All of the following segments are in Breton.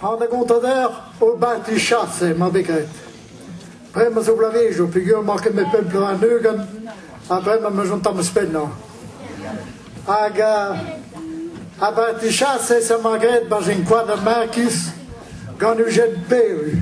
Ha da gontader o banti chase ma vez graet. Bremañ zo bloavezioù peogwir emañ ket met pemp bloaz ugent ha bremañ ma chom tamm eus pennañ. Hag uh, a banti chase ça m'a graet barzh un koad a makis gant Eugène Pelu.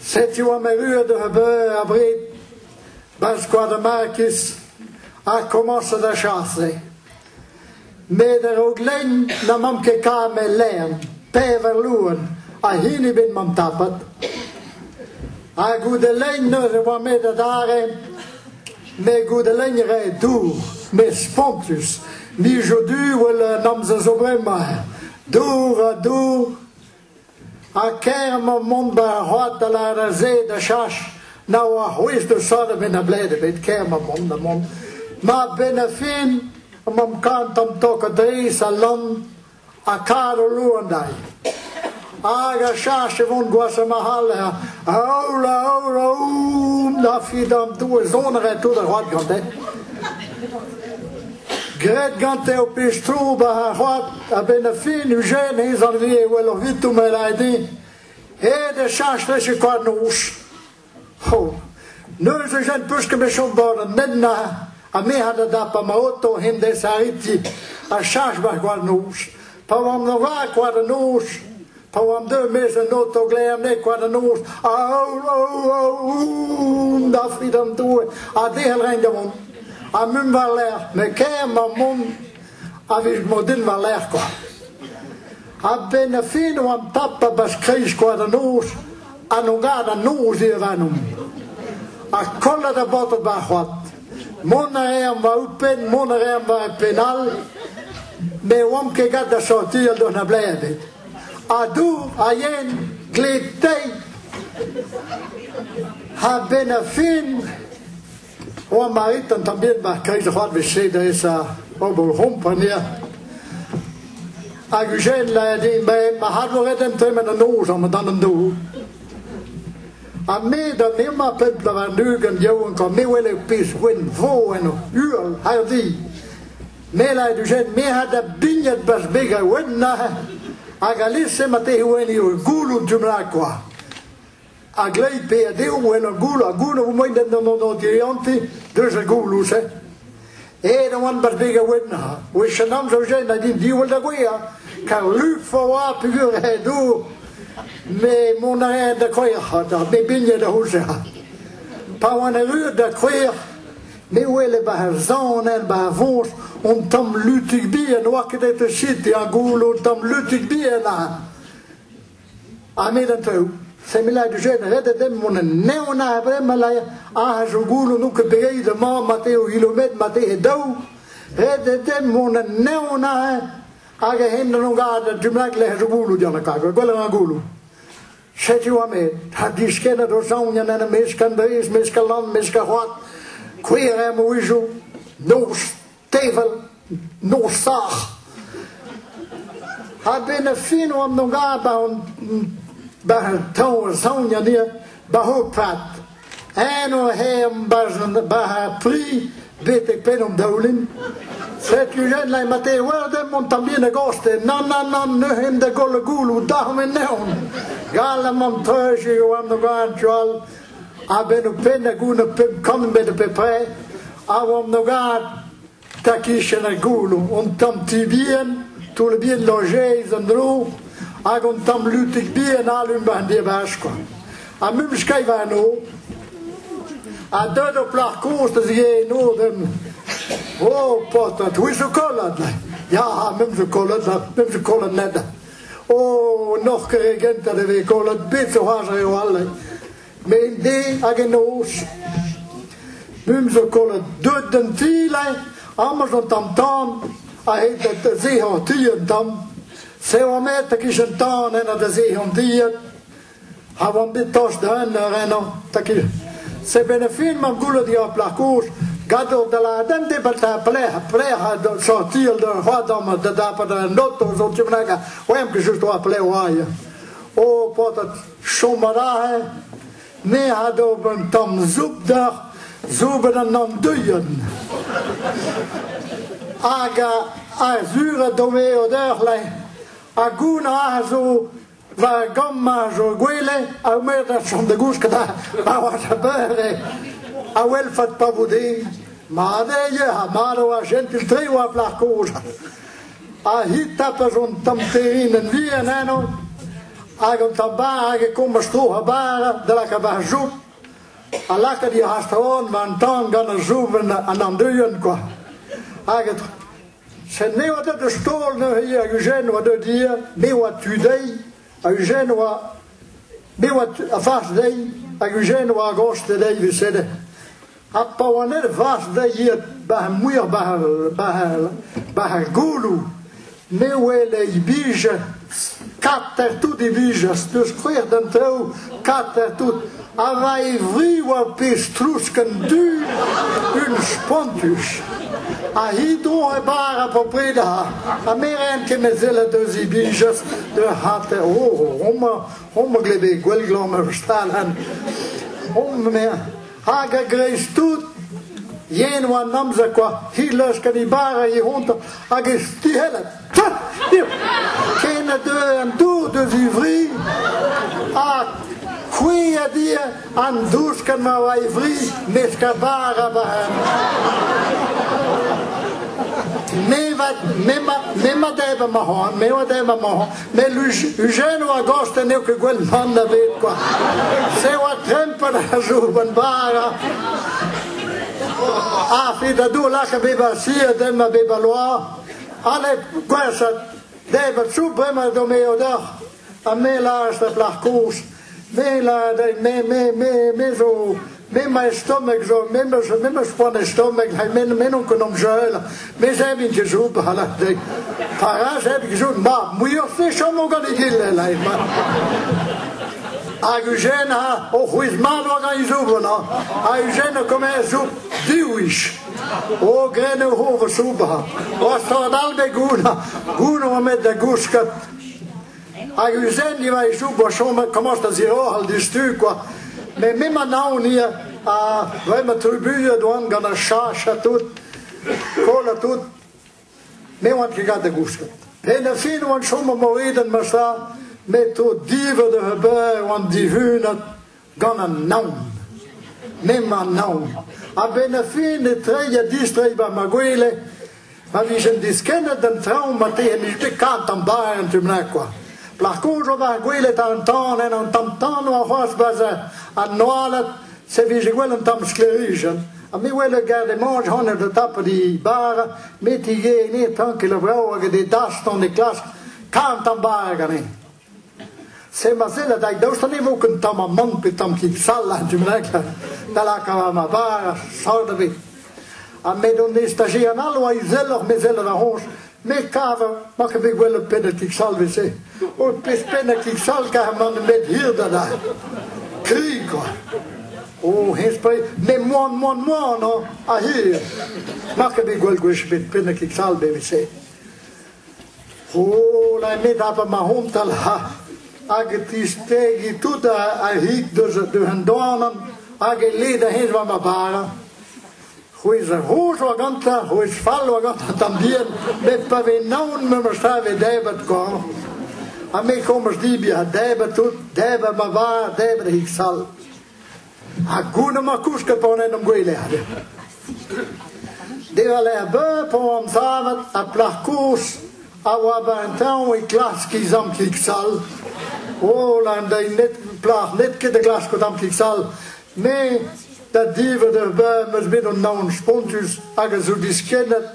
Setu am erruet a-benn abred Baskoad Makis a komañs da chase. Met a-raok lenn na mamp ket kamet lern, pevar loen a hini bet mamp tapet. Ha goude lenn neuze oa met adarre, me goude lenn re dour, mes spontus. Nijo du wel an amzer zo bremañ. Dour ha dour, Ha kaer emañ mont 'ba ar c'hoad da lâret se da chach na oa c'hwezh da sot ebet a bled ebet kaer emañ mont da mont. Ma benn a fin emañ kant an tokadeiz a lan ha kar o loan dai. Hag a chach e vont gwasa ma hall ha a aoul a aoul a oum da fidam doe zonere tout ar c'hoad gante. Gret gante o pez tro ba ar c'hoad A-benn a fin, Eugène, ez an re wel ur vitou ma lae din. Ed e chach rech e koad noz. Ho, neus Eugène peuske me chom bod an medna, ha me ha da dap a ma oto hen des ariti, a chach war koad noz. Pa oan da war koad noz, Pa oamp deumez an oto glerneg kwa da noz, aour, aour, aour, dafri d'an doue, a del rein da mont. Ha mum war-lerc'h, me ker ma mont, a vij modin war-lerc'h kwa. A ben a fin oamp tap a bas kreiz kwa da noz, a no gad an noz e avanomp. Ha kollat a botr ba c'hoat. Mont a rean war ouzhpenn, mont a rean war e penn all. Ne oamp ket gant da sortir d'an ablae ebet. Ha dour ha yen, gled tei. Ha benn a fin, oamp arit an tamm bihan war kreiz ar c'hoadvezh-se da esa ober c'hompania. Hag Eugène l'a dit, mais ma hadvoret en tremen an noz, an dan an dour. Ha me da nema pep lavar-ugent yaouank ha me wele pezh gwen vo en ur uhel hardi. Mela e dujen me ha da bignat bas beg a wen na hag alese ma te hwen eo goulou dumla kwa. A glei pe a deou en ur goul a goul a moen den d'an an dirianti deus a goulou se. Ed oan bet beg a wenna. Wech an amzer jen a din diwall da gouia. Kar luf a oa pegur he dour. Me mont a rea da kouec'h, da me bigne da houzer. Pa oan erru da kouec'h, me wele ba ar zan en ba ar vonch, on tamm lutik bien, oa ket e te chit, ya goul on tamm lutik bien a. Ahmed an Taou. Semila du jen redet em mon neon a vre malai a jo goulo nou ke pegei de ma mate o ilomet mate he daou. Redet em mon neon a hag hen non gad dumlak le jo goulo diana ka gwel an goulo. Shetu Ahmed, ha diskena do saunian an meskan beis meskalan meskahoat, queer am wizu, nos tevel nosac'h. A ben a fin oan no ga ba an ba an taol saonia ni ba ho pat. En o hem ba ba ha pri betek pen an daoulin. Setu jen lai mate werdem mon tambien a goste. Nan nan nan neuhen da golle goulou dahom en neon. Gal am an treuje o am no gan joal A-benn ho penn hag on ho pemp kantvet a peu près, a oamp no gad, ta kichen ar goulou, hon tamm ti bihan, toull bihan lojeiz an dro, hag hon tamm lutig bihan alum war an diabash kwa. Ha mum skai varno, ha deuet o plac'h kozh da zigeno dem, o, portat, oui zo kollad, ya, ha mem zo kollad, la, mem zo kollad ned. O, n'oc'h ket re gentañ da vez kollet betroaj eo all. Me en de hag en noz. Bum zo kollet deut d'an ti-lai, amaj an tam-tam, a-hed da zehañ ti an tam. Sev met a-kichen-tan en da zehañ tiet. Ha oan bet tost da un ar ennañ. Taquil. Se ben a fin m'am goulot eo ar plac'h kozh gador da la dente balta plec'h plec'h a do- sortir d'un c'hoadom da dapet un auto zo tu bennak oem que juste oa plec'h oa O potat chomarahe ne ha do un tamm zoub d'ac'h zouben an andouillen. Hag a, a zure dome o d'eur le. Ha goun a zo Va gamma zo gwele a mer da chom da gouch kata pa oa a beure a welfat pa vo den ma deye ha maro a gentil tre oa plac'h kozh a hita pa zon tamterin en vien eno hag an tabar hag e kommas tro ha bara da laka va joub a laka di hast on man tan gant an joub an andeuien kwa hag Sen me oa deut eus taol neuze hag Eugène oa deut hier, me oa tu dezhi, hag Eugène oa... Me oa a fach dezhi, hag Eugène oa a gos de dezhi vusede. Ha pa oa net a fach dezhi hiet bah muir bah bah bah goulou, me wele i bije Kater tout divijas n'eus c'hwec'h d'an traoù, kater tout. Ha va e vri oa pezh trousk an dud, un spontus. Ha hi don e bar a popred ha a meren ken a zellet eus i bijas de hater o homa homa glebe gwelglamm ur stal han hom me hag a greiz tout yen oa amzer kwa hi leus kan i bar a i honta hag e stihellet Ken a deu an dour da zivri, ha c'hwi a di an douch gant ma oa e vri, mesk a bar a bar. Me va, me ma, me ma deb amañ, me oa deb amañ, me l'Ugen oa gost en eo ket gwell mann a bet, quoi. Se oa trempen a jour ban bara. A fi da dou lak a beba si a dem a beba loa, Alet, gwashat, deb a chou bremañ do me odoc'h, ha me laj da plac'h kozh, me lad me, me, me, me zo, me ma stomach zo, me ma me ma poan e stomach, ha me me non konom jeul, me zeb in gezoub, hala de. Para zeb gezoub, ma, muior fechom o gant e gil, lai, ma. Hag Eugène ha o c'hwez mat war an zoub, na. Ha Eugène a komer zoub diwich. Hogren eo ho va soubañ. Gostoc'h all da gounañ. Gounañ oa met da gousket. Hag Eugène, va echoub, oa chomet komañs da ziorc'h al distu, quoi. Mais me ma naon hier, ha vraiment trubuilhet oan gant ar chache ha tout, koll ha tout. Me oan ket gant da gousket. En a fin oan chom o moedenn ma sa, met o divot ur beurre oan divunat, gant an naon. M'emañ naon. A-benn ar fin e treiñ ha distreiñ ba ma gwele. Ma vijen diskennet d'an traoñ ma te em ite kant am bar en tu mlaen kwa. Par contre, on va gwelet an tan en an tam tan oa c'hoazh baza an noalet se vije gwell an tam sklerijen. Ha me wel gad e manj hanner de tap di bar, me ti ge ne tank e la vrao hag e de daston e klask kant am bar gane. Se ma sell da daoust ne vo ken tamm amann pe tamm kin sal ha tu mlek da lakaat ma var ha sal da bet. Ha met on estajé an all oa izeloc'h me zellet a ronch, me kav ma ke bet gwell pennatik sal vese. O pes pennatik sal ka man met hir da da. Kri quoi. O hespre, me moan moan moan a hir. Ma ke bet gwell gwech bet pennatik sal be vese. C'houlennet a ma c'hontal ha hag e tistegi tout a hig deus an doanan hag e led a-hej war ma bara. C'hwezh a roch oa gantañ, c'hwezh fall oa gantañ tamm bihan, met pa vez naon me 'm save debat koan. Ha me komz dibi ha debat tout, debat ma var, debat hig sall. Ha goun amañ kouske pa on en am gwelead. Diwall er beu pa oan savet ha plac'h koz a oa ba un tañv e klask he zamklik sall. O, lan da net, plac'h net ket da glask o zamklik sall. Me, da divet ur beu, meus bet an naon spontus hag a zo diskennet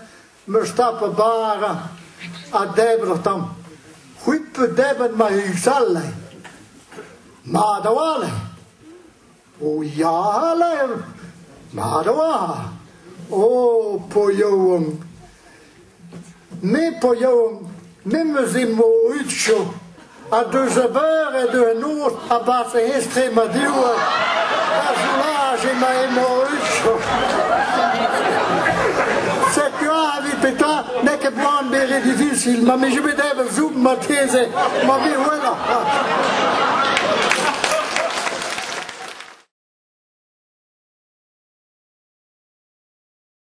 meus tapet bara ha debret am. C'hwi pe debret ma huchale. Mat a-walc'h. O ya ler. Mat a-walc'h. O, po yaouank. Me po yaouank. Memes emañ Utsjo ha deus lavaret un noz a-barzh e estrema divrec'h ar soulaj emañ emañ Utsjo. Setu aze petra n'eo ket boan bezañ difisil ma vije bet evel zoub marteze ma viwelañ.